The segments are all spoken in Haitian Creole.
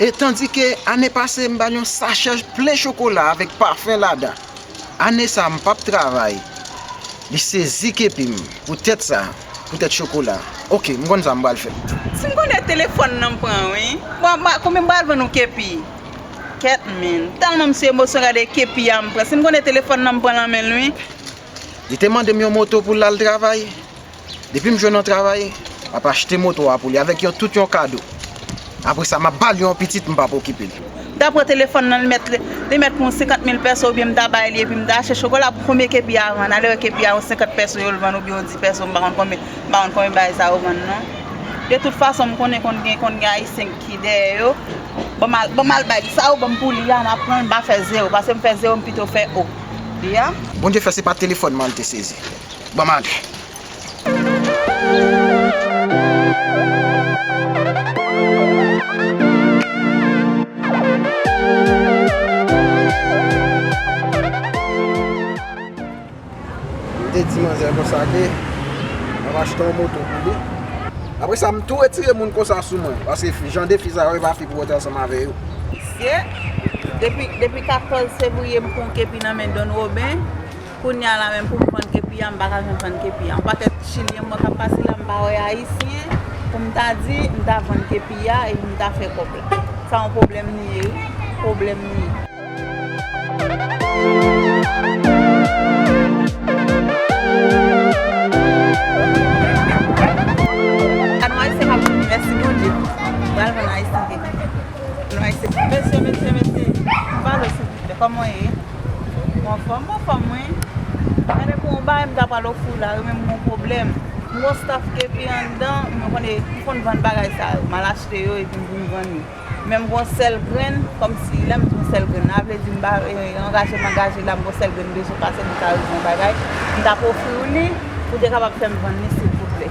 E tandike ane pase m ba l yon sachè plen chokola avèk pafen ladan. Ane sa m pap travay. Li sezi kepi m. Poutèt sa, poutèt chokola. Ok, m konn sa m pral fè. Si m konnen telefòn nan m pran wi. Bon, konbyen m pral vann yon kepi? Kèt mil. Tèlman m sou emosyon gade kepi a m pran. Si m konnen telefòn nan m pran l an men l wi. Li te mande m yon moto pou l al travay. Depi m jwenn yon travay, m ap achte moto a pou li avèk yon tout yon kado. Apre sa, m ap ba li yon pitit m pap okipe l. M ta pran telefòn nan, li mèt li mèt pou yon senkant mil pèso oubyen m ta bay li epi m ta achte chokola pou premye kepi a vann. Alewè kepi a yon senkant pèso yo l vann oubyen yon di pèso m pa konn konbyen m pa konn konbyen bagay sa yo vann non. De tout fason m konnen konn gen konn gen ayisyen ki dèyè yo. Ban m al ban m al bay li sa ou ban m pou li a m ap pran l m pa fè zewo paske m fè zewo m pito fè o. Li a. Bondye fè se pa telefòn m an li te sezi. Bon maten. M te di manzè konsa ke m ap achte yon moto pou li. Apre sa m tou retire moun konsa sou mwen. Paske jan de fi sa yo e pa fi pou rete ansanm avè yo. Mesye, depi 14 fevriye m konke pi nan men Don Roben. Kounya la menm poum vann kepi a m paka janm vann kepi a. On pakèt chilyen m wè kap pase la m pa wè ayisyen poum ta di m ta vann kepi a e poum ta fè kòb la. Sa on pwoblèm li ye wi. Pwoblèm li ye. Gad on ayisyen kap di mèsi Bondye m pral vann ayisyen kepi. Mesye mesye mesye m pale w silvouplè kòman w ye? Ou anfòm m anfòm wi. Gade pou yon bagay m ta pral ofri w la yo menm gon pwoblèm. M gon staff epi anndan m konn e m konn vann bagay sa yo. M al achte yo epi m vin vann yo. Men m gon sèl grenn kòmsi lè m di m gon sèl grenn la vle di m ba angaje m angaje la m gon sèl grenn bezwen pase m ta ofri w bagay m t ap ofri w li pou w te kapab fè m vann li silvouplè.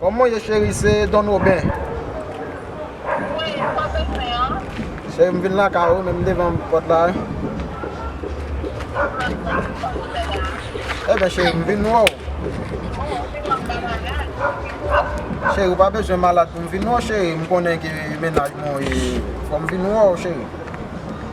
Kòman ou ye cheri se Don Oben. Cheri m vin lakay ou menm devan pòt la. Eben cheri m vin wè w. Cheri ou pa bezwen malad pou m vin wè w cheri m konnen ki menaj mwen ou ye fò m vin wè w cheri.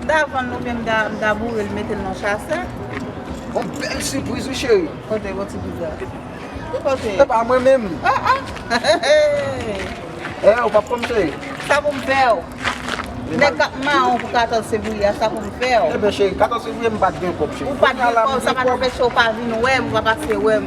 M ta vann l oubyen m ta boure l mete l nan chasè. Gon bèl sipriz wi cheri. Kote gon sipriz la? Ki kote? Epa mwen menm. Oh oh Eeh ou pap pranm cheri? Sa pou m fè w? Nèg kap mawon pou 14 fevriye a sa pou m fè w? Eben cheri 14 fevriye m pat gen kòb cheri. Ou pat gen kòb sa pat anpeche w pa vin wè m ou pa pase wè m.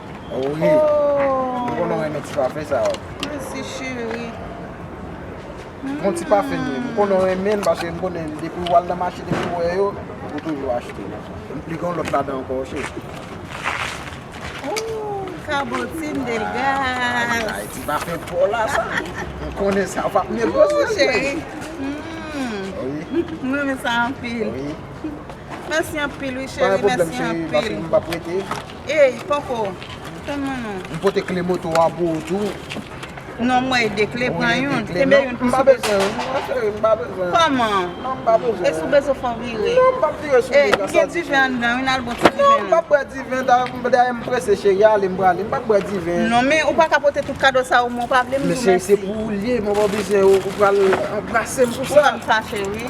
Ohh Mwen konnen w renmen ti pafen sa yo. Mèsi cheri. Pran ti pafen yo. Mwen konnen w renmen l paske mwen konnen depi w al nan mache depi w wè yo ou toujou achte. Li gen yon lòt ladan ankò ok. Ooh Cabotin Delgaz. Ayy ti pafen paw la sa. Mwen konnen sa ou pap negosi l cheri. Mwen renmen sa anpil. Mèsi anpil wi cheri. Mèsi anpil. Ey poko tann mwen non. M pote kle moto a pou ou tou. Non m wè 2 kle pran youn. Kenbe youn pou sou bezwen. M pa bezwen m pa bezwen. Kòman? Non m pa bezwen. E sou bezwen fò vire. Non m pap vire sou li konsa. E gen diven anndan wi nal bon ti diven. Non m pap bwè diven dayè m prese cheri ale m prale m pap bwè diven. Non men ou paka pote tout kado sa ou men ou pa vle m di w mèsi. Men cheri se pou ou l ye mwen pa bezwen ou pral anbrase m pou sa. Ou wè m fache wi.